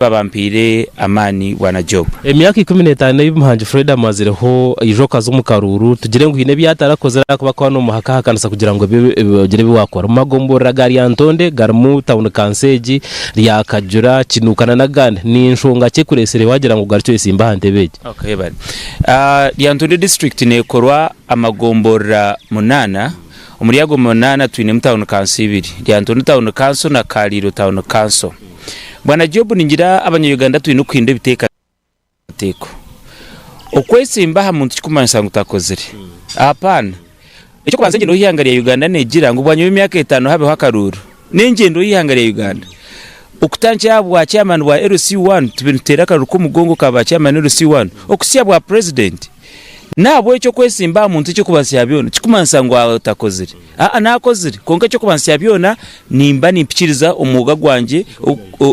Mukama bampaire amaani bwana Job. Emyaka ikumi n'etaano ei Muhangi Fred amazireho, aija okaza omu karuuru, tugire ngu haine ebi atarakozire ahakuba akuba n'omuhaka ahakanisa kugira ngu ogire ebi waakora. Omu magomborora ga Lyantonde garimu tauni kanso egi, Ryakajura, Kinuuka nana agandi, ni nshonga ki ekureetsire waagira ngu ogarukye oyesimbe aha ntebe egi? Okay bale. Lyantonde disiturikiti neekorwa amagomborora munaana. Omuri ago munaana twinemu Tawuni Kanso ibiri, Lyantonde Tawuni Kanso na Kaliiro Tawuni Kanso. Bwana Job ningira abanya-Uganda twine kuhindura ebiteekateeko. Okwetsimba aha muntu tikumanyisa ngu takozire. Ahapaana. Eky'okubanza engyenda y'eihanga rya Uganda negira ngu bwanyima y'emyaka etaano habeho akaruuru. N'engyendo y'eihanga rya Uganda okutandikira aha bwa chairman bwa LC I tube nituteera akaruru k'omugongo ka ba chairman LC I okuhitsya bwa president. N'ahabw'ekyo okwetsimba aha muntu eky'okubanza kya byona tikikumanisa ngu atakozire. Aa n'akozire kwonka eky'okubanza kya byona nimba nimpikiriza omwoga gwangye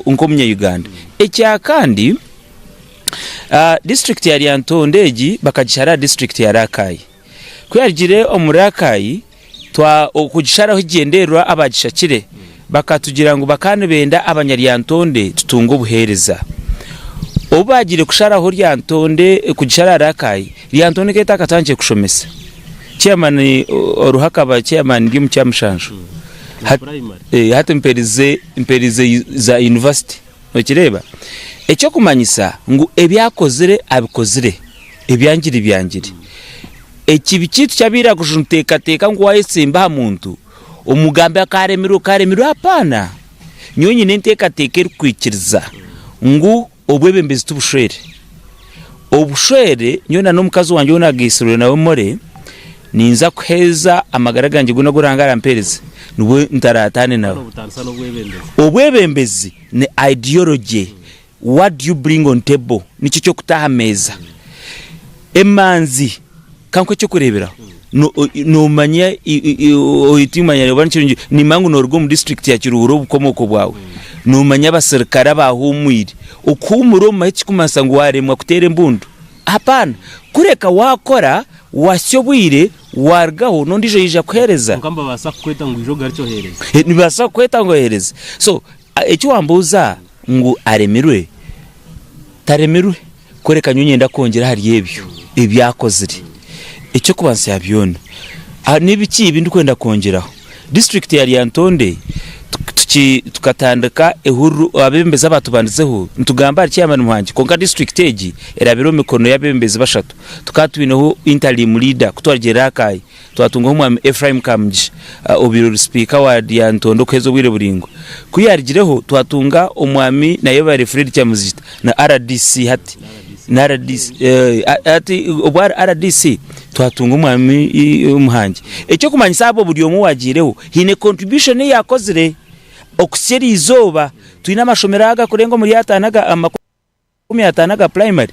nk'omunya Uganda. Ekya kandi, district ya Lyantonde egi bakagishara aha district ya Rakai. Ku yarugire omu Rakai, twa okugisharaho ekigyendererwa abaagishakire bakatugira ngu bakaba nibenda abanyaryantonde tutunge obuheereza. Obu baagiire kusharaho ryantonde kugishara aha Rakai, ryantonde nk'eyo etakatandikire kushomesa. Chairman oruho akaba chairman ri omu kyamushanju. Hati mperize mperize za university. Nokireeba? Eky'okumanyisa ngu ebi akozire abikozire ebyangiri byangiri. Ekibi kyaitu kyabaire aha kushusha nituteekateeka ngu waayetsemba aha muntu, omugambe akaaremirwa okaaremirwa apaana. Nyowe nyine enteekateeka erikwikiriza ngu obwebembezi tibushwere. Obushwere nyowe na n'omukazi wangye ou nagaitsirwe nawe Molly, ninza kuheereza amagara gangye goona agu Ruhanga arampeereza nibwo ntaraataane nawe. Obwebembezi ni ideology. What do you bring on table? Niki eki okutaho aha meeza. Emanzi. Ka nk'eky'okureeberaho, noomanya ngu nimba ngu nooruga omu disiturikiti ya Kiruhura obukomooko bwawe, noomanya abaserukare abaahuumwire. Okuhuumura omu mahe tikirikumanyisa ngu waaremwa kuteera embundu. Hapaana! Kureka waakora, watsya obwire, waarugaho, n'ondiijo yaija kuheereza. Kwonka nibabaasa kukweta ngu oije ogarukye oheereze. Nibabaasa kukweta ngu oheereze. So, eki waambuuza ngu aremirwe? Taremirwe. Kworeka nyowe nyenda kwongyera ahari ebyo ebi akozire. Eky'okubanza kya byona, ni biki ebi ndikwenda kwongyeraho? Disiturikiti ya Lyantonde tukatandika ehururu, abeebembezi abaatubandizeho nitugamba ahari chairman wangye kwonka disiturikiti egi erabire omu mikono y'abeebembezi bashatu. Tukaba twineho interimu leader ku twarugiirire aha Kaaya, Twatungaho Omwami Ephraim Kamugisha obubaire ori sipiika wa Lyantonde okuheza obwire buraingwa. Ku yaarigireho twatunga Omwami Nayebare Fred Kyamuzita na rdc hati na rdc hati obu ari rdc twatunga Omwami Muhangi. Eky'okumanyisa abo buri omwe owaagiireho haine contribution ei yaakozire okutsya eri izooba. Twine amashomero agakurenga omuri ataano aga, makumi ataano aga purayimari,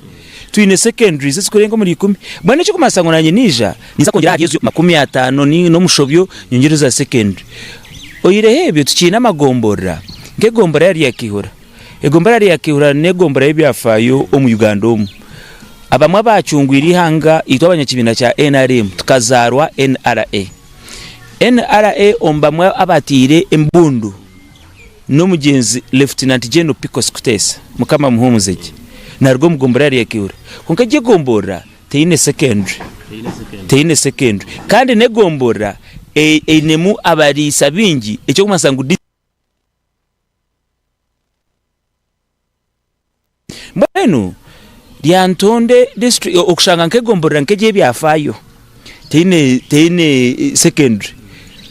twine secondaries ezikurenga omuri ikumi, mbwenu ekirikumanyisa ngu naanye naija, ninza kwongyera ahari ezo makumi ataano n'omushobyo nyongyereho eza secondary. Oyireho ebyo tukiine amagomborora nk'egombora ya Ryakihura. Egombora ya Ryakihura n'egombora y'ebyafaayo omu Uganda omu. Abamwe abaacungwire eihanga itwe abanyakibiina kya nrm tukazaarwa NRA. NRA omu bamwe abataire embundu. N'omugyenzi Lieutenant General Picos Kutesa, Mukama amuhuumuze gye, naaruga omu gomborora rya Kiihura. Kwonka egi egomborora teine secondary, teine secondary kandi n'egomborora einemu abariisa baingi, eky'okumanyiisa ngu. Mbwenu Lyantonde district okushanga nk'egomborora nk'egi ebyafaayo teine teine secondary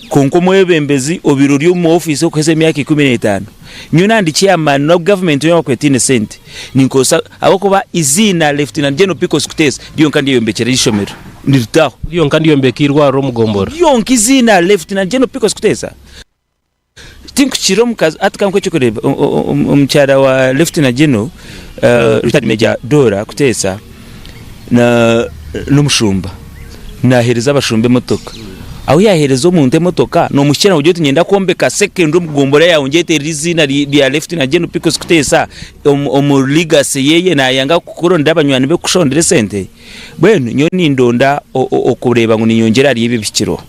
kwonka omwebembezi obaire ori omu office okuheza emyaka ikumi n'etaano nyowe nandikye amaani na government yoona obu ekuba teine sente ninkozesa ahabw'okuba eiziina Lieutenant General Pickles Kuteesa ryonka ndyeyombekyera eishomero niritaho. Ryonka ndyombeka eirwariro omu gomborora. Ryonka eiziina Lieutenant General Pickles Kuteesa. Tinkukira omukazi ati kankuhe ekyokureeba, omukyara wa Lieutenant General Retired Major Dorah Kuteesa n'omushumba naaheereza abashumba emotoka, ahu yaaheereza omuntu emotoka noomukira nogira oti niinyenda kwombeka secondary omu gombora yaawe ngyete eiziina rya Lieutenant General Picos Kuteesa omu legacy ye naayanga kukuronda abanywani be kukushondera esente. Mbwenu nyowe nindonda okureeba ngu ninyongyera ahari ebyo bihikiro.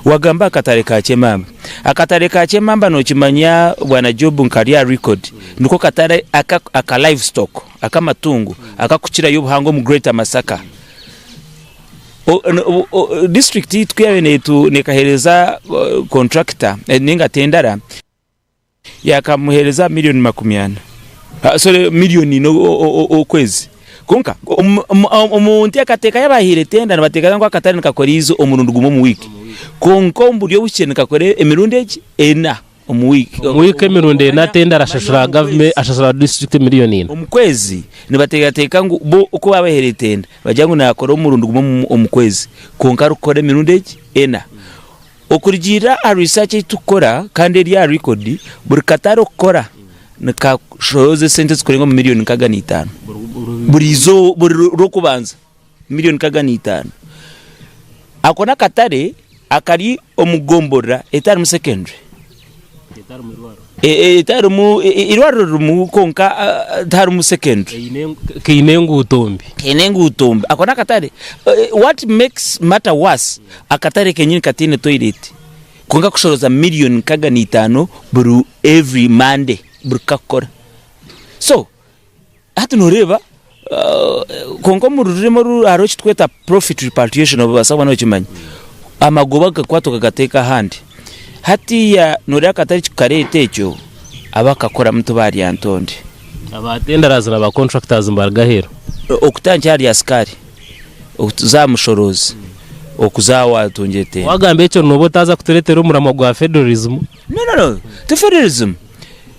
Wagamba akatare ka kyemamba. Akatare ka kyemamba nokimanya bwana Job nkari aha record niko katare aka live stock akamatungo akakukirayo obuhango omu greater Masaka. District yaitu kuyabaire nekahereza contractor ninga tendara, Yaakamuheereza milioni makumi ana, sorry milioni ina okwezi. Kwonka, omu nteekateeka y'abaahaire tenda, nibateekateeka ngu akatare nikakora eizi omurundi gumwe omu wiiki. Kwonka omu buryo obukye nikakora emirundi egi? Ena omu wiiki. Omu wiiki emirundi ena tenda arashashura gavumenti, arashashura disiturikiti milioni ina. Omu kwezi nibateekateeka ngu bo oku baabahaire tenda, nibagira ngu naakora omurundi gumwe omu kwezi. Kwonka arikukora emirundi egi? Ena. Okurugiirira aha research ei turikukora kandi eri aha record, buri katare okukora nikashoroza esente ezikurenga omu million nkaaga na itaano buri eizooba buri rw'okubanza million nkaaga na itaano. Ako n'akatare akari omu gomborora etarimu secondary. etarimu eirwariro ririmu kwonka tiharimu secondary kaine enguuto mbi kaine enguuto mbi ako nakatare what makes matter was akatare kenyini kataine toilet kwonka kushoroza million nkaga na itaano buri every monday buri kukakora so Hati noreeba kwonka omu rurimi oru hariho eki turikweta profit repatriation noobaasa kuba nookimanya, amagoba agakwatwa gagateekwa ahandi, hatiiya noreeba akatare eki kukareeta ekyo abakakoramu tibaarya ntonde. Aba tendarazi na ba contractors nibaruga aheeru? Okutandikira ahari asikaari, okuza aha mushoroozi, okuza aha waatungire tenda. Waagamba ekyo nooba otaaza kutureetera omuramwa gwa federalism? No, no, no, ti federalism,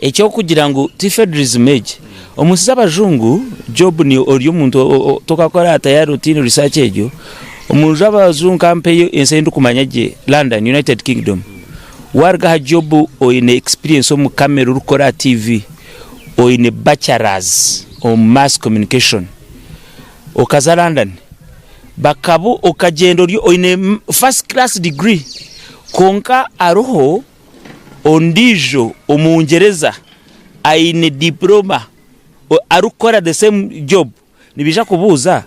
eky'okugira ngu ti federism egi. Omunsi z'abajungu, Job ni ori omuntu tokakora aha tayari otiine research egyo, omunju abajungu kampa ensi eyi ndikumanya gye London, United Kingdom, waruga aha Job oyine experience omu camera ori kukora aha TV, oyine bachelors omu mass communication, okaza London bakabu okagyenda oyine first class degree kwonka aroho. Ondiijo omugyereza aine dipuroma arikukora the same job nibaija kubuuza,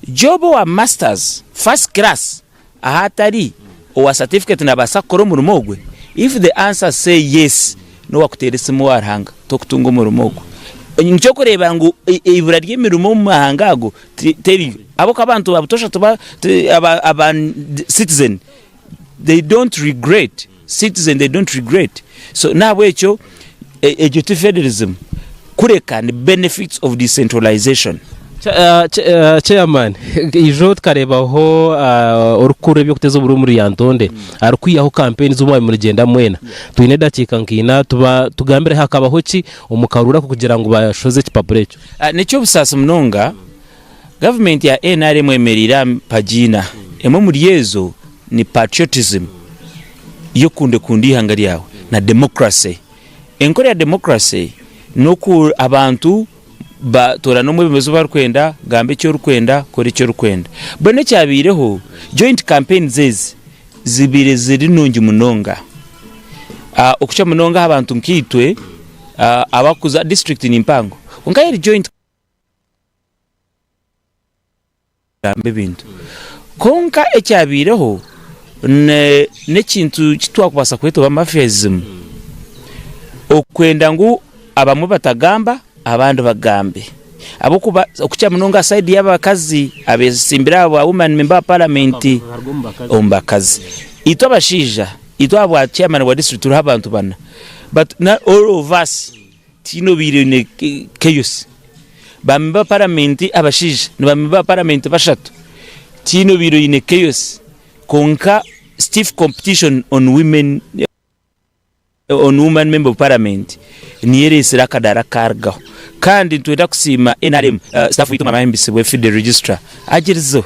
Job owa masters first class ahu atari owa certificate nabaasa kukora omurimo ogwe? If the answer say yes nowakuteera esimu owa Ruhanga tokutunga omurimo ogwo. Nikyo orikureeba ngu eibura ry'emirimo omu mahanga ago teriyo ahabw'okuba abantu ba butosha aba citizen they don't regret citizen they don't regret so nahabwekyo egyo ti federism kureka ni benefits of decentralization. Chairman ijo tukarebaho orikukora ebyokuteza oburofa omuri Lyantonde arikwihaho campaign zomwabire murigenda mwena twine edakika nka ina tugambireho hakabaho ki omu Karura kugira ngu bashoze ekipapura ekyo. Nekyobusaasi munonga. Gavumenti ya nrm eyemereire aha mpagi ina, emwe omuri ezo ni patriotism, y'okundekunda eihanga ryawe, na democracy. Enkora ya democracy n'oku abantu batoorana omwebembezi ou barikwenda, gamba eki orikwenda, kora eki orikwenda. Mbwenu ekyabaireho, joint campaigns ezi zibaire ziri nungi munonga, okukira munonga aha bantu nkaitwe abarikuza, disiturikiti ni mpango, kwonka aha eri joint campaign. kugamba ebintu. Kwonka ekyabaireho n'ekintu eki twakubaasa kweta oba mafiyazimu, okwenda ngu abamwe batagamba abandi bagambe ahabw'okuba okukira munonga aha rubaju rw'abakazi abeetsimbire aha bwa wumani memba wa paramenti omu bakazi. Itwe abashaija itwe aha bwa chairman wa disiturikiti turiho abantu bana, bati na all of us. Tihaine obaire aine chaos. Baami ba Paramenti abashaija ni baami ba Paramenti bashatu. Tihaine obaire aine chaos. Kwonka stiff competition on women on woman member of Parliament niyo ereetsire akadaara kukaarugaho. Kandi nitwenda kusiima nrm, staff waitu Mama Ahimbisibwe, Fidel Registrar agyerizeho.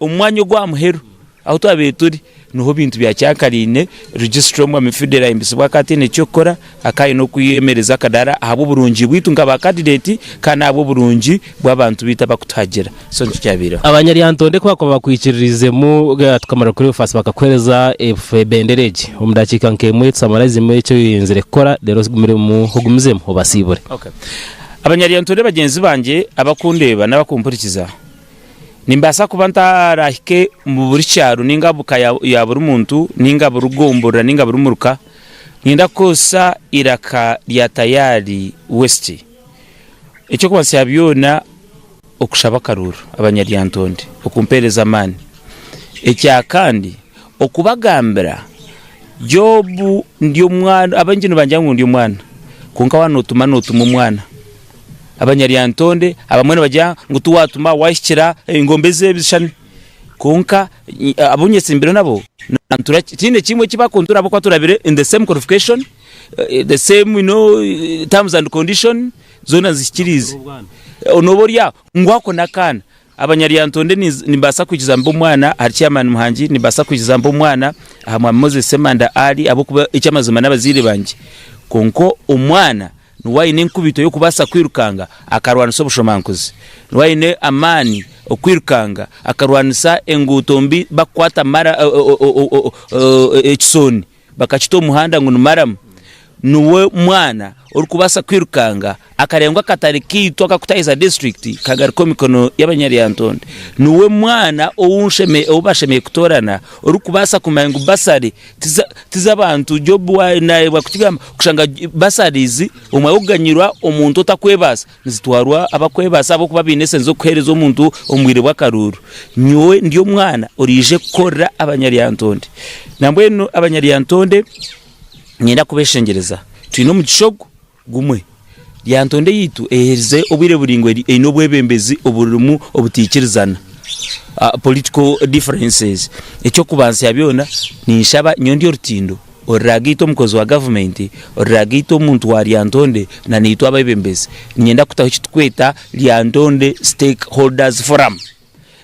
Omu mwanya ogu aha muheru ahu twabaire turi niho ebintu byakyankaraine, Registrar Omwami Fidel ahimbisibwe akaba ataine ky'okukora, akaba aine okwemereza akadaara ahabw'oburungi bwaitu nka ba candidate kandi n'ahabw'oburungi bw'abantu baitu abakutuhagira. So nikyo kyabaireho. Abanyaryantonde ku baakuba bakwikiririizemu tukamara kukora obufaasi bakakuheereza ebendera egi. Omu daakiika nk'emwe tusamaraizimu eki oyenzire kukora reero ogumizemu ogumizemu obasiibure. Okay. Abanyaryantonde bagyenzi bangye abakundeeba n'abakumpurikiza, Nimbaasa kuba ntaraahike omu buri kyaro nainga omu ka ya buri muntu nainga buri gomborora nainga buri muruka, niinyenda kukoresa eiraka rya Tayari West. Eky'okubanzisa kya byona, okushaba akaruuru abanyaryantonde okumpeereza amaani. Ekya kandi, okubagambira Job ndi omwana, abaingi nibangira ngu ndi omwana, kwonka waaba nootuma, nootuma omwana. Abanyaryantonde abamwe nibagira ngu tiwatuma wahikira engombe ezi ebishushani kwonka abu nyetsimbire nabo nibantura tihaine kimwe eki bakuntura ahabw'okuba turabire in the same qualification, the same you know terms and condition zoona nzihikiriize. Nooba ori aho ngu ako n'akaana. Abanyaryantonde nimbaasa kwikiza mbe omwana ahari Chairman Muhangi, nimbaasa kwikiza mbe omwana aha Mwami Moses Ssemanda Ali ahabw'okuba eky'amazima n'abazaire bangye kwonka omwana, Niwe aine enkubito y'okubaasa kwirukanga akarwanisa obushomankuzi. Niwe aine amaani okwirukanga akarwanisa enguuto mbi bakukwata mara ekisooni bakakita omu muhanda ngu ni maramu. Niwe mwana orikubaasa kwirukanga akarenga akatare kaitu akakutahiza disiturikiti kagaruka omu mikono y'abanyaryantonde. Niwe mwana ou bashemereire kutoorana orikubaasa kumanya ngu basari Ti z'abantu. Jobu naareebwa kukigamba kushanga basarizi omwe arikuganyirwa omuntu otarikwebaasa. Nizitwarwa abarikwebaasa ahabw'okuba baine esente z'okuheereza omuntu omu bwire bw'akaruuru. Nyowe ndi omwana oraije kukorera abanyaryantonde. Nambwenu abanyaryantonde niinyenda kubeshengyereza. Twine omugisha ogu. gumwe. Lyantonde yaitu eyeherize obwire buraingwa eri eine obwebembezi oburimu obutaikirizana, political differences. Eky'okubanzya byona ninshaba nyowe ndi orutindo ori rwagaitu omukozi wa gavumenti, ori rwagaitu omuntu wa Lyantonde na naitwe abebembezi niinyenda kutaho eki turikweta Lyantonde Stakeholders Forum.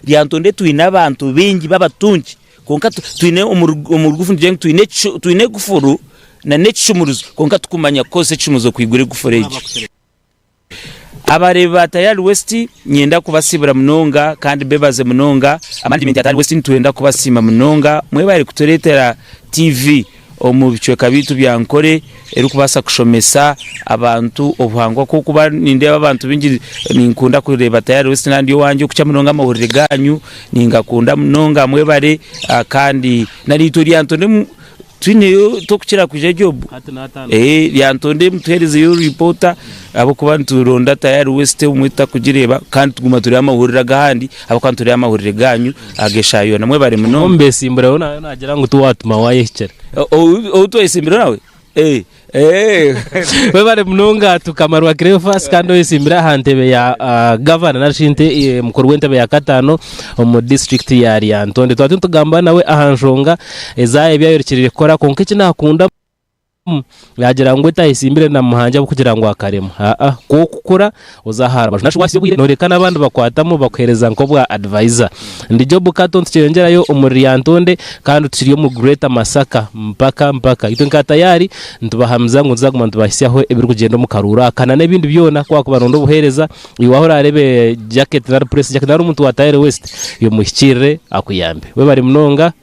Lyantonde twine abantu baingi b'abatungi Kwonka twine omu rugufu nitugira ngu twine ekufuru nana ekishumuruzo kwonka tukumanya kukozesa ekishumuruzo kwigura ekufuru egyo. Abareebi ba Tayari West nyenda kubasiibura munonga kandi mbebaze munonga. Amanagimenti ya Tayari West nitwenda kubasiima munonga mwebare kutureetera TV. omu bicweka byaitu bya nkore erikubaasa kushomesa abantu obuhangwa ahabw'okuba nindeeba abantu baingi ninkunda kureeba tayari wesiti nandi owangye okukira munonga amahurire gaanyu ningakunda munonga mwebare ah, kandi nari itwe ryantondemu twineyo tokukira kwija jobu eh, ryantondemu tuheerezeyo ripoota ahabw'okuba nituronda tayari wesiti obumwe tutakugireeba kandi tuguma tureeba amahurire ag'ahandi Ahabw'okuba nitureeba amahurire gaanyu ag'eshaaha yoona, mwebare munonga. Omubeesimbura we nawe naagira ngu tiwaatuma waayehikira. Ou twayesimbire nawe? Mwebare munonga Tukama rwa Cleophas kandi oyesimbire aha ntebe ya Gavana nari shi mukuru w'entebe ya kataano omu disiturikiti ya Lyantonde. Twaba nitugamba nawe aha nshonga ezi ebi ayorikiriire kukora kwonka eki naakunda, Ahamu, yaagira ngu etaayetsimbire na muhangi ahabw'okugira ngu akaremwa. Aa-a. Ku okukura, oza aha rubaju. Nashusha waasiya obwire nooreeka n'abandi bakwatamu bakuheereza nk'obwa advaisa. Ndi Job Kato nitukyeyongyerayo omuri Lyantonde kandi tukiri omu Greater Masaka mpaka mpaka. Itwe nka Tayari nitubahamiza ngu nituzaguma nitubahitsyaho ebirikugyenda omu karuuru aka nana ebindi byona ku waakuba nooronda obuheereza. Iwe ahu oraareebe Jacket nari Press Jacket nari omuntu wa Tayari West, y'omuhikiirire akuyambe. Webare munonga.